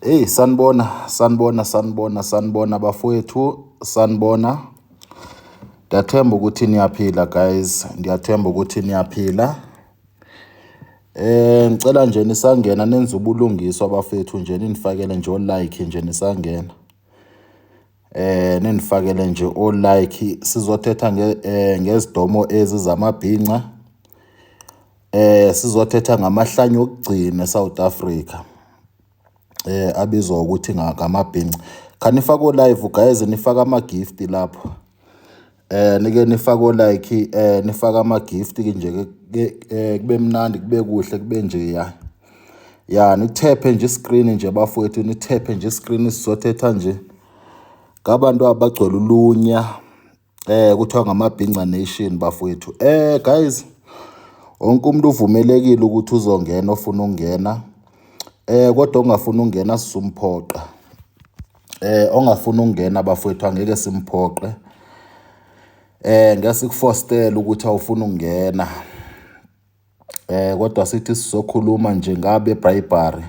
Hey sanibona sanibona sanibona sanibona bafowethu sanibona ndiyathemba ukuthi niyaphila guys ndiyathemba ukuthi niyaphila eh ngicela nje nisangena nenze ubulungiswa bafethu nje ninifakele nje o-like nje nisangena eh nindifakele nje o like sizothetha nge eh, ngezidomo ezi zamabhinca eh sizothetha ngamahlanya okugcina eSouth Africa eh abizwa ukuthi ngamabhinca khanifaka o live guys nifaka ama gift lapho Eh nike nifaka o like eh nifaka ama gift ke nje ke eh, kube mnandi kube kuhle kube nje ya. Ya nithephe nje screen nje bafowethu nithephe nje screen sizothetha nje. Ngabantu abagcwele ulunya eh kuthiwa ngamabhinca nation bafowethu. Eh guys wonke umuntu uvumelekile ukuthi uzongena ofuna ukungena. Eh kodwa ongafuna ukungena sizumphoqa. eh ongafuna ukungena bafowethu angeke simphoqe eh ngeke sikufostele ukuthi awufuna ukungena eh kodwa sithi sizokhuluma nje ngabe bribery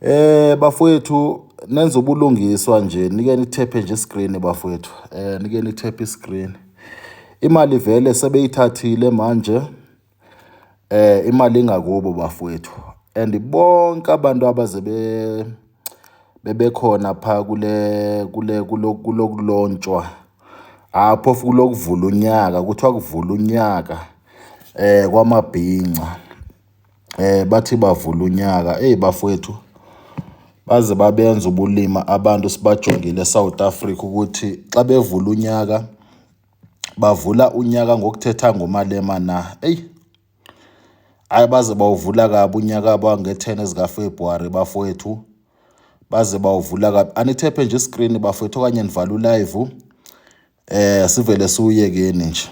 eh bafowethu nenza ubulungiswa nje nike nithephe nje screen bafowethu eh nike nithephe screen imali vele sebeyithathile manje Eh imali ingakubo bafowethu and bonke abantu abaze be bebekhona pha kule kule kulokulontshwa hha phofu kulokuvula unyaka kuthiwa kuvula unyaka eh kwamabhinca eh bathi bavula unyaka eyi bafowethu baze babenza ubulima abantu sibajongile eSouth Africa ukuthi xa bevula unyaka. bavula unyaka ngokuthetha ngoMalema na? Eyi, ayi baze bawuvula kabi unyaka bangethene ezikaFebruary bafowethu, baze bawuvula kabi. Anithephe nje iskrini bafowethu okanye nivala ulive eh sivele siwuyekeni nje.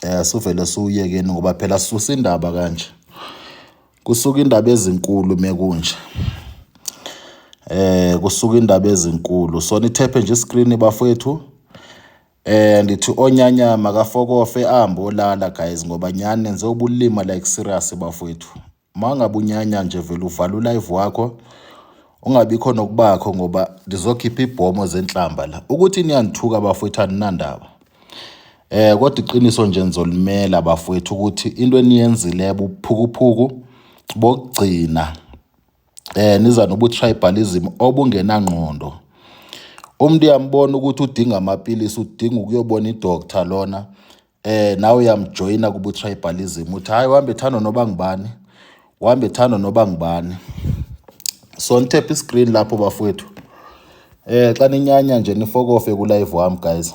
Eh sivele siwuyekeni ngoba phela sisusa indaba kanje. Kusuka indaba ezinkulu mekunje. Eh kusuka indaba ezinkulu. So nithephe nje iscreen bafowethu. Eh ndithi onyanya makafokofe ahambe olala guys ngoba nyani nenze ubulima like serious bafowethu. Mangabe unyanya nje vele uvala ulive wakho ungabikho nokubakho ngoba ndizokhipha ibhomo zenhlamba la. Ukuthi niyangithuka bafowethu aninandaba. Eh kodwa iqiniso nje nizolimela bafowethu ukuthi into eniyenzile buphukuphuku bokugcina eh niza nobu tribalism obungenangqondo umuntu uyambona ukuthi udinga amapilisi udinga ukuyobona idoctor lona eh nawe uyamjoyina kubu tribalism uthi hayi uhambe thando noba ngubani uhambe thando noba ngubani so nitap iscreen lapho bafowethu eh xa ninyanya nje nifokofe ku live wami guys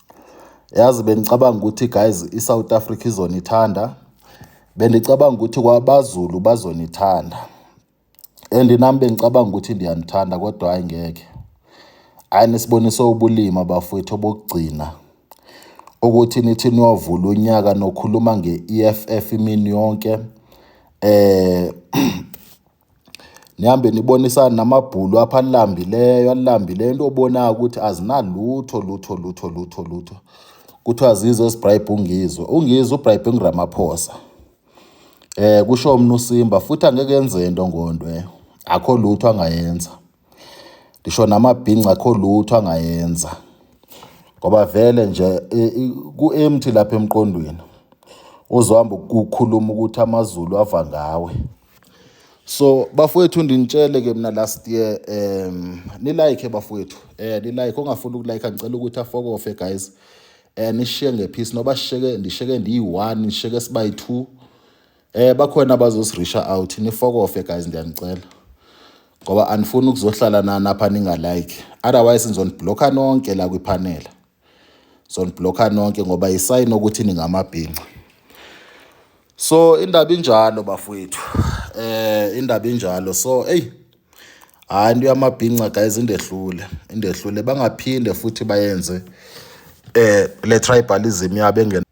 Yazi bengicabanga ukuthi guys iSouth Africa izonithanda. Bendicabanga ukuthi kwabaZulu bazonithanda. And nami bengicabanga ukuthi ndiyanithanda kodwa hayi ngeke. Hayi nisibonise ubulima bafowethu obokugcina. Ukuthi nithi niyovula unyaka nokhuluma nge-EFF imini yonke. Eh nihambe nibonisane namabhulu apha alambileyo alambileyo into obonayo ukuthi azinalutho lutho lutho lutho lutho kuthiwa zizo ezibrayibhe ungizwe ungizwe ubrayibhe unguramaphosa eh kusho umnu simba futhi angeke enze into ngondwe akho lutho angayenza ngisho namabhinca akho lutho angayenza ngoba vele nje e, ku-empty lapha emqondweni uzohamba ukukhuluma ukuthi amazulu ava ngawe so bafowethu ndinitshele ke mina last year um nilike bafowethu eh nilike ongafuni ukulike ngicela ukuthi afokofe guys eh nishiye ngephisi noba sheke ndisheke ndiyi-1 nisheke sibayi-2 Eh bakhona abazosirisha out nifokofe guys ndiyanicela. Ngoba anifuni ukuzohlala nani apha ninga like. Otherwise nizoniblocker nonke la kwipanel. Zoniblocker nonke ngoba isayini ukuthi ningamabhinca. So indaba injalo bafowethu. Eh indaba injalo. So hey hayi into yamabhinca guys indehlule. Indehlule bangaphinde futhi bayenze eh le tribalism yabo engena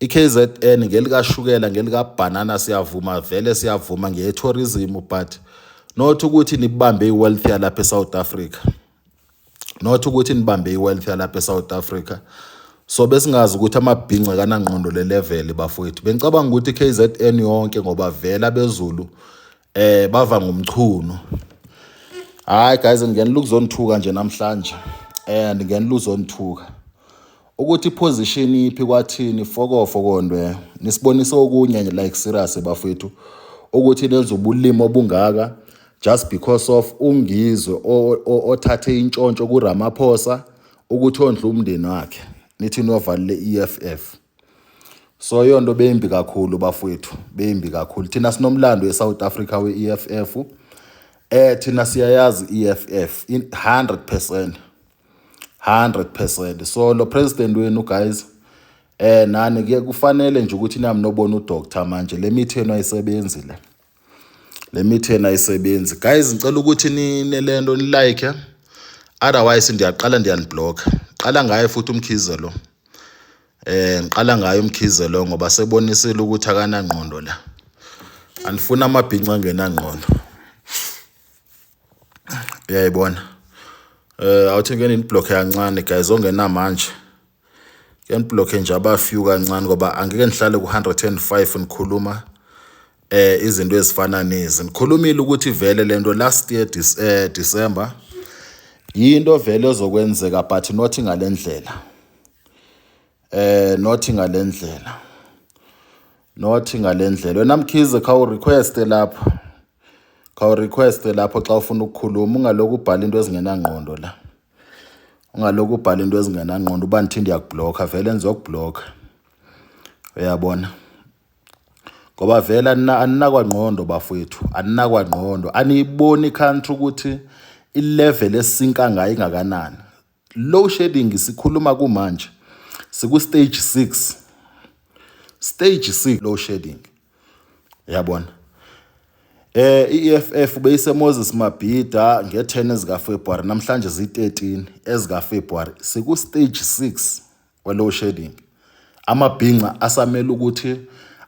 iKZN ngelikashukela ngelikabhanana siyavuma vele siyavuma ngeyetourism but not ukuthi nibambe iwealth yalapha eSouth Africa not ukuthi nibambe iwealth yalapha eSouth Africa so besingazi ukuthi amabhinca kanangqondo le level bafowethu bengicabanga ukuthi KZN yonke ngoba vele abezulu eh bava ngomchunu hayi guys ngenela ukuzonithuka nje namhlanje and ngenela uzonithuka ukuthi position iphi kwathini fokofo kondwe nisibonisa okunye like serious bafethu ukuthi nenza ubulimo obungaka just because of ungizwe othathe intshontsho kuRamaphosa ukuthi ondla umndeni wakhe nithi niyovalile iEFF so iyo nto beyimbi kakhulu bafowethu beyimbi kakhulu thina sinomlando esouth africa we-e f f um eh, thina siyayazi i-e f f hundred percent hundred percent so lo president wenu guys um nani kuye kufanele nje ukuthi nami nobona udoctor manje le mithi yenu ayisebenzi le Le mitheni ayisebenzi. Guys ngicela ukuthi nine le nto nilike otherwise ndiyaqala ndiyaniblock. Qala ngaye futhi umkhize lo. Eh ngiqala ngaye umkhize lo ngoba sebonisile ukuthi akanangqondo la. Anifuna amabhinca angenangqondo. Uyayibona. Eh awuthi ke niblock yancane guys ongenamanje. Ngiyaniblockhe nje abafew kancane ngoba angeke nihlale ku-105 nikhuluma eh izinto ezifana nezi. Nikhulumile ukuthi vele lento last year dis, eh, December yinto vele ezokwenzeka but not ngalendlela. Eh not ngalendlela. Not ngalendlela. Wena Mkhize khawu request lapho. Khawu request lapho xa ufuna ukukhuluma ungalokhu ubhala into ezingenangqondo la. ungalokhu ubhala into ezingenangqondo uba ndithi ndiyakublokha vele ndizokublokha uyabona ngoba vele aninakwangqondo bafowethu aninakwangqondo aniyiboni country ukuthi ilevel esisinka ngayo ingakanani low shedding sikhuluma kumanje siku-stage six stage six low shedding yabona eh iEFF beyise Moses Mabhida nge10 ezika February namhlanje zi13 ezika February siku stage 6 we low shedding amabhinca asamele ukuthi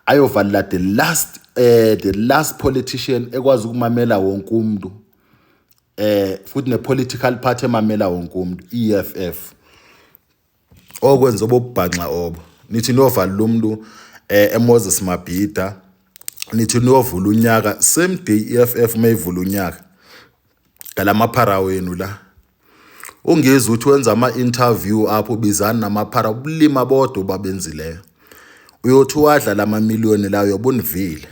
ayovalela the last eh the last politician ekwazi ukumamela wonke umuntu eh futhi ne political party emamela wonke umuntu EFF okwenza obobubhanxa obo nithi niyovala lo mntu um eh, emoses mabhida nithi niyovula unyaka same day i-f f uma ivula unyaka ngala maphara wenu la ungezi ukuthi wenza ama-interview apho ubizani namaphara ubulima bodwa obabenzileyo uyothi wadla la mamiliyoni lawo yobunivile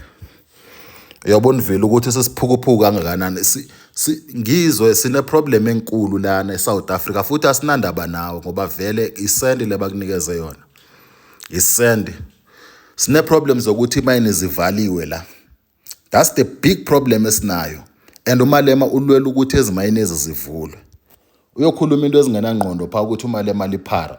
uyabona vele ukuthi sesiphukuphuku kangakanani ngizwe sineproblem enkulu lana eSouth Africa futhi asinandaba nawo ngoba vele isend lebakunikeze yona isend sineproblem zokuthi imayini zivaliwe la that's the big problem esinayo and umalema ulwela ukuthi ezimayini ezizivulwe uyokhuluma into ezingenangqondo pha ukuthi umalema liphara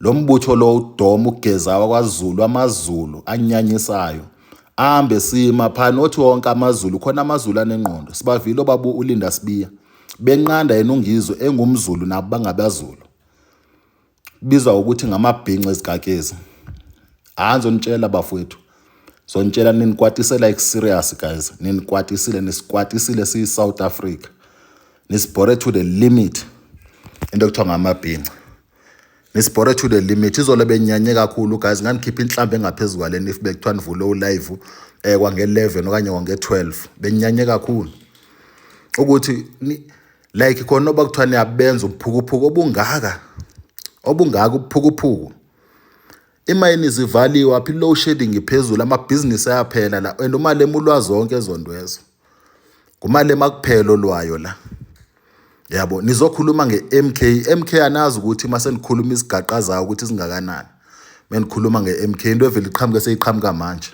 Lo mbutho lo udoma ugeza wakwaZulu amaZulu anyanyisayo ambe sima phana othi wonke amaZulu khona amaZulu anengqondo sibavile obabu uLinda Sibiya benqanda yena uNgizwe engumZulu nabo bangabaZulu bizwa ukuthi ngamabhinca ezikakezi hayi zonitshela bafowethu zonitshela ninikwatisela ikuserious guys ninikwatisile nisikwatisile siyi-South Africa nisibhore to the limit into ekuthiwa ngamabhinca nisibhore to the limit izolo benyanye kakhulu guys nganikhipha inhlamba engaphezu kwaleni if bekuthiwa nivule ulive um eh, kwange-11 okanye kwange-12 benyanye kakhulu ukuthi like khona oba kuthiwa niyabenza ubuphukuphuku obungaka obungaka ubuphukuphuku imayini zivaliwe aphi low shedding iphezulu amabhizinisi ayaphela la and uma lemulwa zonke ezondwezo Kumale makuphela olwayo la. Yabo nizokhuluma ngeMK. MK anazi ukuthi uma senikhuluma isigaqa zayo ukuthi singakanani. Menikhuluma ngeMK into evele iqhamuke seyiqhamuka manje.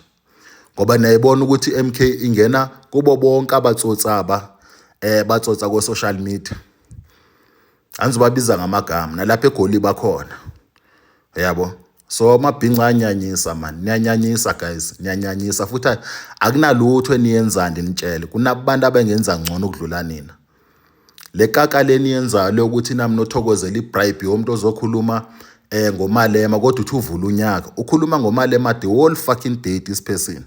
Ngoba niyayibona ukuthi MK ingena kubo bonke abatsotsi aba eh batsotsa ko social media. angizobabiza ngamagama nalapha egoli bakhona yabo so amabhinca anyanyisa mani niyanyanyisa guys niyanyanyisa futhi akunalutho eniyenzani nitshele kunabantu abengenza ngcono ukudlula nina le kaka leni yenzayo lokuthi nami nothokozela ibribe yomuntu ozokhuluma eh ngomalema kodwa uthi uvula unyaka ukhuluma ngomalema the whole fucking day this person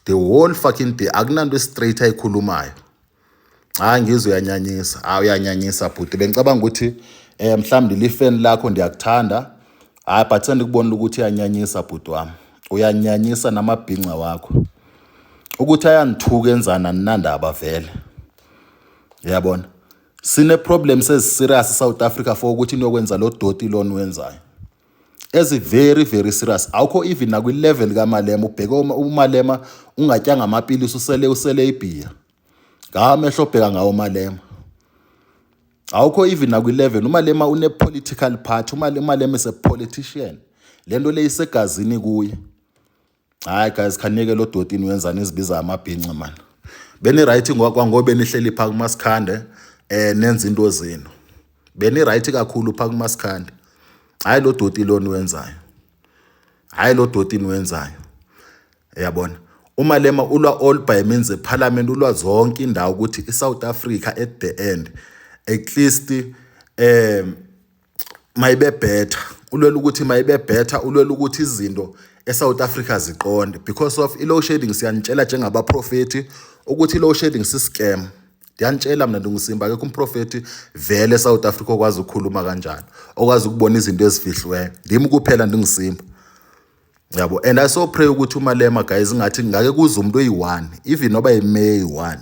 the whole fucking day akunanto straight ayikhulumayo Hayi ngizwe uyanyanyisa. Hayi uyanyanyisa bhuti. Bengicabanga ukuthi eh mhlawumbe lifeni lakho ndiyakuthanda. Hayi but sendikubonile ukuthi uyanyanyisa bhuti wami. Uyanyanyisa namabhinca wakho. Ukuthi ayangithuka enzana ninandaba vele. Uyabona? Sine problem sezi serious South Africa for ukuthi niyokwenza lo doti lona wenzayo. ezi very very serious awukho even nakwi level kamalema ubheke umalema ungatyanga amapilisi usele usele ibhiya ngamehlo obheka ngawo malema awukho even nakwi level umalema une political party umalema is a politician lento leyisegazini kuye Hayi guys khanike lo dotini wenzani izibiza amabhinci man. Beni right kwangobe nihleli pha kuMasikhande eh nenza into zenu. Beni right kakhulu pha kuMasikhande. Hayi lo doti lona wenzayo. Hayi lo dotini wenzayo. Yabona. umalema ulwa all by means eparliament ulwa zonke indawo ukuthi iSouth Africa at the end at least um mayibe better ulwela ukuthi mayibe better ulwela ukuthi izinto eSouth Africa ziqonde because of i-low shading siyanitshela njengabaprofethi ukuthi i-low shading si-scam ndiyanitshela mna ndingusimba akekho umprofethi vele eSouth Africa okwazi ukukhuluma kanjalo okwazi ukubona izinto ezifihliweyo ndim kuphela ndingusimba yabo and i so pray ukuthi umalema guys ngathi ngake kuze umuntu oyi-one even noba yimeya eyi-one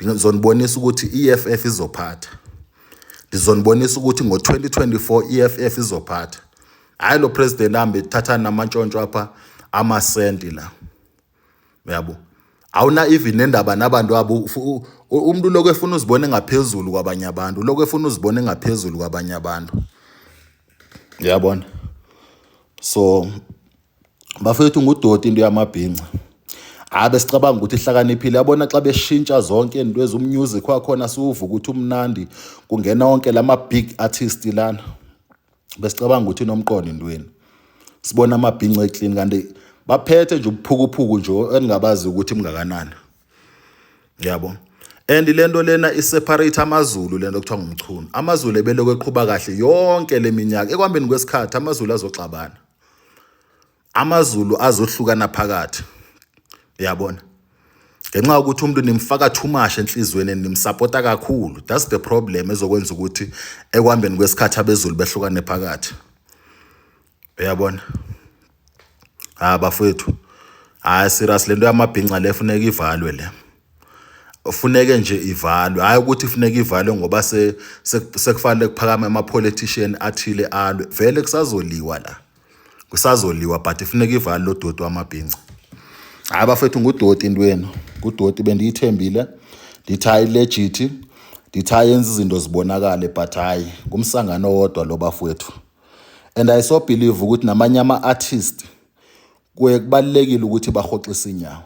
ndizonibonisa ukuthi i-eff izophatha ndizonibonisa ukuthi ngo-2024 i-eff izophatha hhayi lo president ahambe ethathana namantshontsho apha amasenti la uyabo awuna even nendaba nabantu abo umuntu lokho efuna uzibone ngaphezulu kwabanye abantu lokho efuna uzibone ngaphezulu kwabanye abantu uyabona so bafethu ngudoti into yamabhinca hayi besicabanga ukuthi ihlakaniphile yabona xa beshintsha zonke into ezummusic wakhona siwuvuka ukuthi umnandi kungena wonke lama big artist lana besicabanga ukuthi inomqondo intweni sibona amabhinco eclean kanti baphethe nje ubuphukuphuku nje eningabazi ukuthi mngakanani yabo and lento lena iseparate amazulu lento kuthiwa ngumchunu amazulu ebeloko eqhuba kahle yonke leminyaka ekwambeni kwesikhathi amazulu azoxabana AmaZulu azohlukana phakathi. Uyabona? Ngenxa yokuthi umuntu nimfaka too much enhlizweni nimsapota kakhulu. That's the problem ezokwenza ukuthi ekwambeni kwesikhathi abeZulu behlukane phakathi. Uyabona? Ha bafethu. Hayi serious lento yamabhinca le funeka ivalwe le. Ufuneke nje ivalwe. Hayi ukuthi ifuneka ivalwe ngoba se sekufanele kuphakama ama politician athile alwe. Vele kusazoliwa la. kusazoliwa but ifuneka ivali lo doti wamabhinca hayi bafethu ngudoti into yenu ngudoti bendiyithembile ndithi hayi legit ndithi hayi yenza izinto zibonakale but hayi ngumsangano owodwa lo bafowethu and i so believe ukuthi namanye ama-artist kuye kubalulekile ukuthi bahoxise inyawo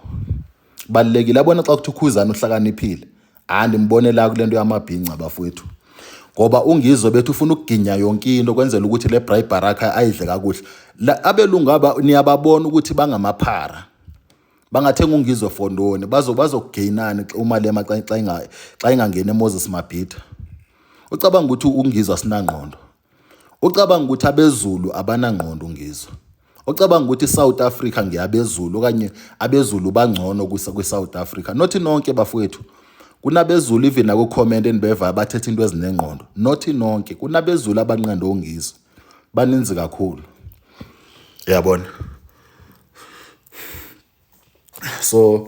balekile abona xa kuthi ukhuzana uhlakaniphile hayi ndimbone la kule nto yamabhinca bafowethu ngoba ungizwe bethu ufuna ukuginya yonke into kwenzela ukuthi le bribe baraka ayidle kakuhle abelungu aba niyababona ukuthi bangamaphara bangathenga ungizwe fondoni bazokugainani uma lema xa ingangeni emoses mabhida ucabanga ukuthi ungizwe asinangqondo Ucabanga ukuthi abezulu abanangqondo ngizwe? Ocabanga ukuthi iSouth Africa ngeyabezulu okanye abezulu bangcono kwiSouth Africa? Nothi nonke bafowethu. Kunabezulu even naku-comment enibeva abathetha into ezinengqondo. Nothi nonke. Kunabezulu abanqanda ongizwe. Baninzi kakhulu. Uyabona? So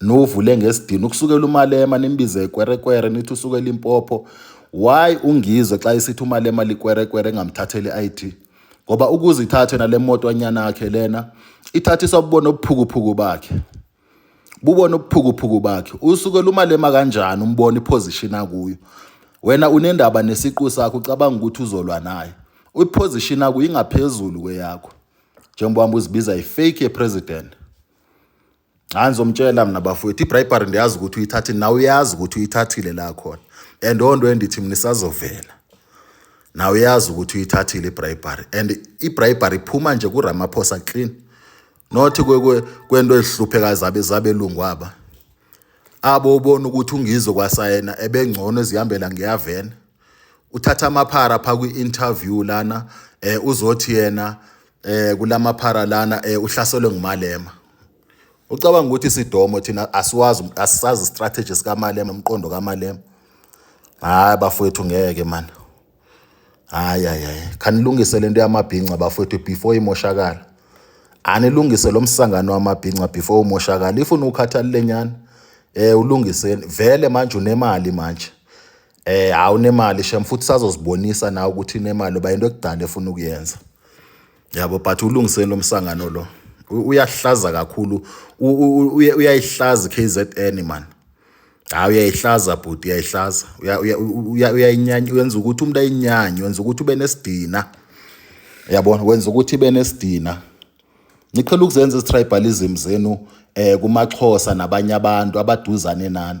Nuvule ngesidini ukusukela umalema nimbize ikwerekwere nithi usuke Limpopo. Why ungizwe xa isithi umalema likwerekwere engamthatheli ID? Ngoba ukuze ithathe nale moto anyana yakhe lena ithathiswa bubona obuphukuphuku bakhe. Bubona obuphukuphuku bakhe. Usukela umalema kanjani umbona iposition akuyo. Wena unendaba nesiqu sakho ucabanga ukuthi uzolwa naye. Uyiposition akuyo ingaphezulu kweyakho. Njengoba uzibiza ifake president. hayi ngizomtshela mina bafowethu ibribery ndiyazi ukuthi uyithathile nawe uyazi ukuthi uyithathile la khona and onto endithi mina isazovela nawe uyazi ukuthi uyithathile ibribery and ibribery iphuma nje kuramaphosa clean not kwento ezihluphekayo zabe zabelungu aba abo ubona ukuthi ungizwe kwasayena ebengcono ezihambela ngiyavena uthatha amaphara pha kwi-interview lana um uzothi yena eh kulamaphara lana eh uhlaselwe ngumalema ucabanga ukuthi sidomo thina asiwazi asisazi strategy sikamalema umqondo kamalema hayi bafowethu ngeke man hayi hayi khanilungise lento yamabhinca bafowethu before imoshakala anilungise lo msangano wamabhinca before umoshakala if unukhathalile nyana eh ulungiseni vele manje unemali manje Eh hawu unemali shem futhi sazozibonisa nawe ukuthi unemali uba into ekudala efuna ukuyenza. Yabo but ulungiseni lo msangano lo. Uyahlaza kakhulu uyayihlaza KZN man. Hayi uyayihlaza bhuti uyayihlaza. Uyayinyanya uyenza ukuthi umuntu ayinyanye, wenza ukuthi ube nesidina. Yabona wenza ukuthi ibe nesidina. Niqhela ukuzenza izitribalism zenu eh kumaXhosa nabanye abantu abaduzane nani.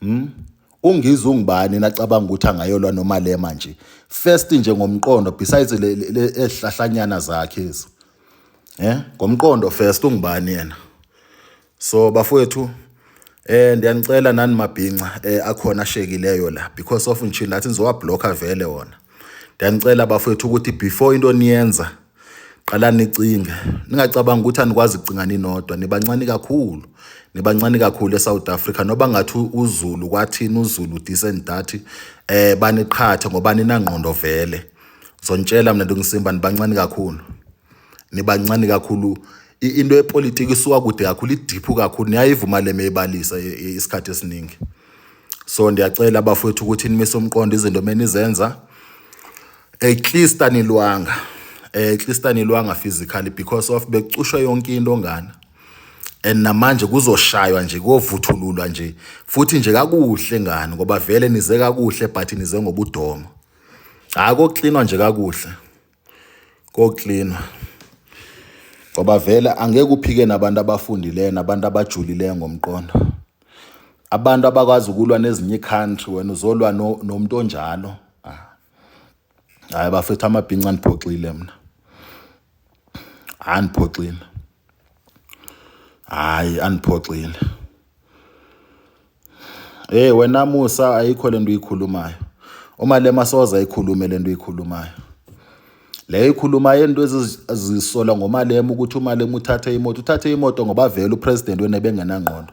Hmm? UNgizwe ungubani nacabanga ukuthi angayolwa noMalema nje. First nje ngomqondo besides le ehlahlanyana zakhe ezi. Eh? Ngomqondo first ungubani yena? So bafowethu eh ndiyanicela nani mabhinca eh akhona ashekileyo la because of nje lathi nizowablocker vele wona. Ndiyanicela bafowethu ukuthi before into niyenza Qala nicinge, ningacabanga ukuthi anikwazi kucinga ninodwa, nibancane kakhulu. Nibancane kakhulu eSouth Africa noba ngathi uZulu kwathini uZulu this and that eh baniqhathe ngoba ninangqondo vele. Zontshela mina ndongisimba nibancane kakhulu. Nibancane kakhulu into yepolitiki isuka kude kakhulu idiphu kakhulu niyayivuma le meyibalisa isikhathi esiningi. So ndiyacela abafowethu ukuthi nimise umqondo izinto menizenza at least anilwanga eh, at least anilwanga physically because of bekucushwa yonke into ngana and namanje kuzoshaywa nje kovuthululwa nje futhi nje kakuhle ngani ngoba vele nize kakuhle but nize ngobudomo hayi koklinwa nje kakuhle koklinwa ngoba vele angeke uphike nabantu abafundileyo nabantu abajulileyo ngomqondo abantu abakwazi ukulwa nezinye icountry wena uzolwa nomuntu onjalo hayi bafethu amabhinca andiphoxile mna andiphoxile hayi andiphoxile hey wena musa ayikho lento uyikhulumayo uma lema soza ayikhulume lento uyikhulumayo leyo ikhuluma yento ezizisola ngomalema ukuthi umalema uthathe imoto uthathe imoto ngoba vele upresident wena bengenangqondo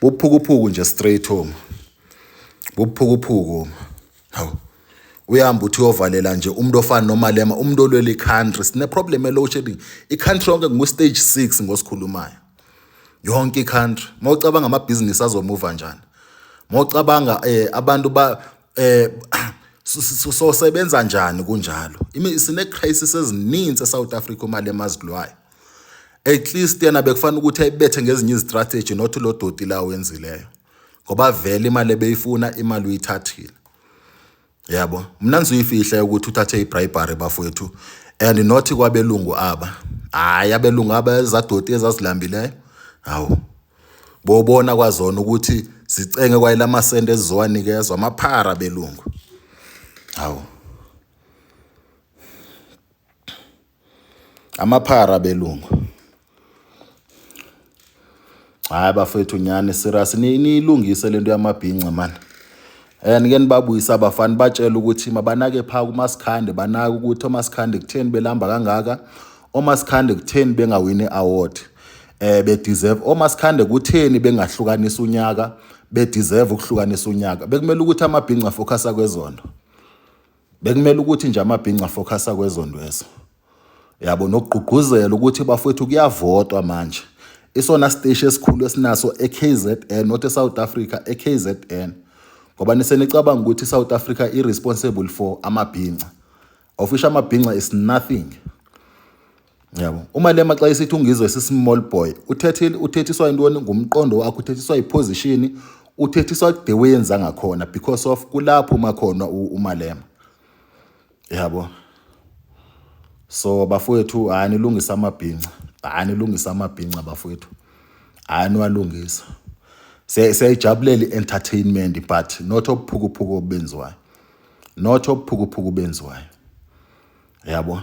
Buphukuphuku nje straight home. Buphukuphuku. Hawu. Uyamba uthi uyovalela nje umuntu ofana nomalema umuntu olwela i-country sine problem ye-load shedding i-country yonke ngu-stage six ngosikhulumayo yonke i-country uma ucabanga amabhizinisi azomuva njani uma ucabanga um abantu ba um sosebenza njani kunjalo sine-crisis ezininzi esouth africa umalema azilwayo at least yena bekufanele ukuthi ayibethe ngezinye izistrategy not lo doti la wenzileyo ngoba vele imali ebeyifuna imali uyithathile yabo mna ngizoyifihle ukuthi uthathe ibribery bafowethu and not kwabelungu aba hayi abelungu aba ezadoti ezazilambileyo hawu bobona kwazona ukuthi zicenge kwayela amasende ezizowanikezwa amaphara belungu hawu Amaphara belungu. Hayi bafethu nyani serious niyilungise lento yamabhinca man. And ke nibabuyisa abafana batshela ukuthi mabanake pha kuMasikhande banaka ukuthi oMasikhande kutheni belamba kangaka. OMasikhande kutheni bengawini award. Eh be deserve oMasikhande kutheni bengahlukanisa unyaka be deserve ukuhlukanisa unyaka. Bekumele ukuthi amabhinca focus kwezonto. Bekumele ukuthi nje amabhinca focusa kwezondwezo. Yabo nokugqugquzela ukuthi bafowethu kuyavotwa manje. Isona siteshi esikhulu esinaso eKZN not eSouth Africa eKZN. Ngoba nisenicabanga ukuthi iSouth Africa irresponsible for amabhinca. Ofisha amabhinca is nothing. Yabo. UMalema xa esithi uNgizwe sisimall boy, uthethile uthethiswa intoni ngumqondo wakho, uthethiswa iposition, uthethiswa the way enza ngakhona because of kulapho uma khona uMalema. Yabo. So bafowethu hayi nilungisa amabhinca. Hayi nilungisa amabhinca bafowethu. Hayi niwalungisa. Siyayijabulela i-entertainment but not obuphukuphuku obenziwayo. Not obuphukuphuku obenziwayo. Yabo.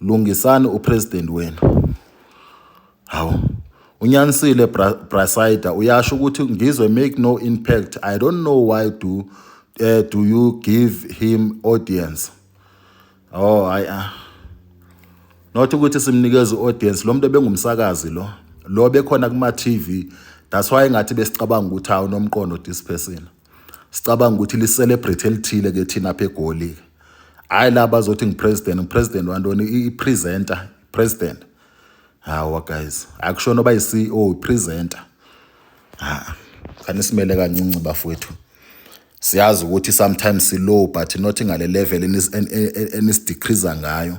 Lungisani upresident wenu. Hawu. Unyanisile Brasida uyasho ukuthi ngizwe make no impact. I don't know why do uh, do you give him audience. Oh hayi ah. Not ukuthi simnikeza audience lo muntu ebengumsakazi lo. Lo bekhona kuma TV. That's why ngathi besicabanga ukuthi hawu nomqondo this person. sicabanga ukuthi li-celebrate elithile-ke thina apha egoli-ke hhayi la bazothi ngipresident ngipresident wantoni i-presenter president hawa guys akushona oba yi-ceo i-presenter ha khani simele kancinci bafowethu siyazi ukuthi sometimes silow but not ngale level enisidecreaser ngayo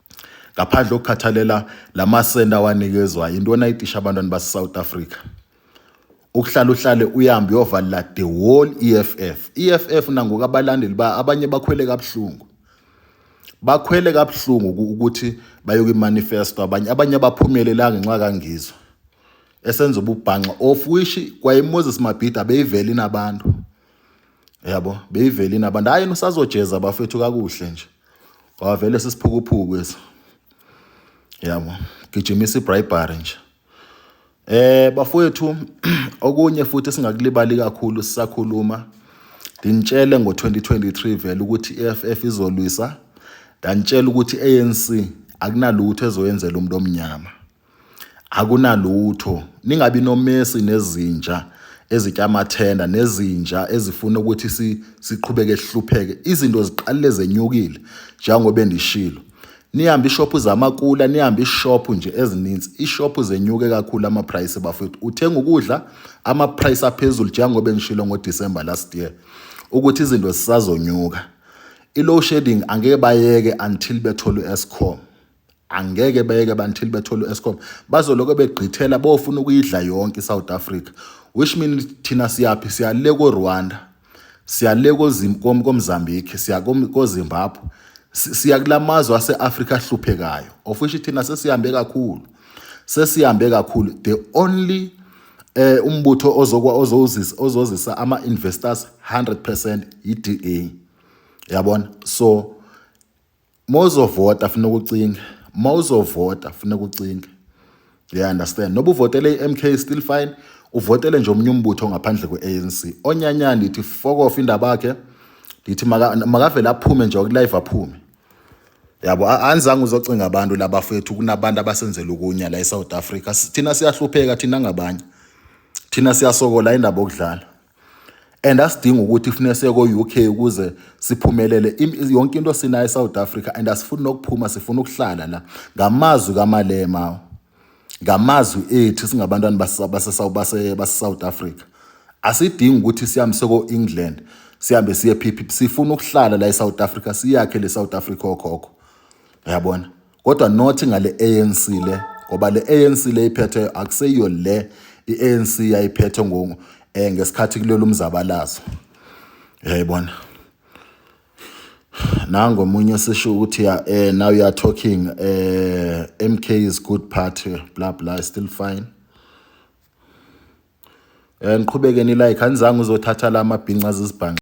ngaphandle kokukhathalela la masenda awanikezwa yinto onayitisha abantwana base-south africa ukuhlala uhlale uyahambe uyovalela the whole EFF EFF nangoku abalandeli ba abanye bakhwele kabuhlungu bakhwele kabuhlungu ukuthi bayoke imanifesto abanye abanye abaphumelelanga ngenxa kangizwe esenza ububhanxa of which kwaye Moses Mabhida beyiveli nabantu yabo beyivele inabantu hayi usazojeza bafethu kakuhle nje wavele sisiphukuphuku eso yabo gijimisa ibribery nje eh bafowethu okunye futhi singakulibali kakhulu sisakhuluma ndinitshele ngo-2023 vele ukuthi i-EFF izolwisa ndanitshela ukuthi i-ANC akunalutho ezoyenzela umuntu omnyama Akunalutho, ningabi nomesi nezinja ezitya amathenda nezinja ezifuna ukuthi siqhubeke sihlupheke. Izinto ziqalile zenyukile njengoba endishilo. Nihambe ishophu zamakula, nihambe ishophu nje ezininzi. Ishophu zenyuke kakhulu ama-price bafowethu. Uthenga ukudla ama-price aphezulu njengoba engishilo ngoDisemba last year ukuthi izinto zisazonyuka. I-low shedding angeke bayeke until bethole u-Eskom. angeke beyeke bantil bethole u-escom bazoloko begqithela bofuna ukuyidla yonke i-south africa which mean thina siyaphi siyale ko-rwanda siyale komzambiki siya kozimbabwe siya kula mazwe ase-afrika ahluphekayo of which thina sesihambe kakhulu sesihambe kakhulu the only eh umbutho ozokwa ozozisa ozozisa ama investors 100% yiDA yabona so Mozovota funa ukucinga. Mozovota funa ukucinga. You understand? Noba uvotele iMK still fine. Uvotele nje omunye umbutho ngaphandle kweANC. Onyanyana ndithi fokofa indaba yakhe. Ndithi makavele aphume nje okulive aphume. Yabo anizange uzocinga abantu labafethu kunabantu abasenzela ukunya la eSouth Africa. Thina siyahlupheka thina ngabanye. Thina siyasokola indaba okudlala. and asidingi ukuthi kufuneka siye ko-UK ukuze siphumelele yonke into sinayo eSouth Africa and asifuni nokuphuma sifuna ukuhlala la ngamazwi kaMalema ngamazwi ethu singabantwana baseSouth Africa asidingi ukuthi sihambe seko-England sihambe siye phiphi sifuna ukuhlala la eSouth Africa siyakhe le South Africa okhokho yabona kodwa not ngale ANC le ngoba le ANC le iphethe akuseyiyo le iANC yayiphethe ngo eh ngesikhathi kulelo umzabalazo yayibona nango omunye sisho ukuthi ya eh now you are talking eh MK is good party bla bla still fine eh niqhubeke ni like anizange uzothatha la mabhinca azizibhanqa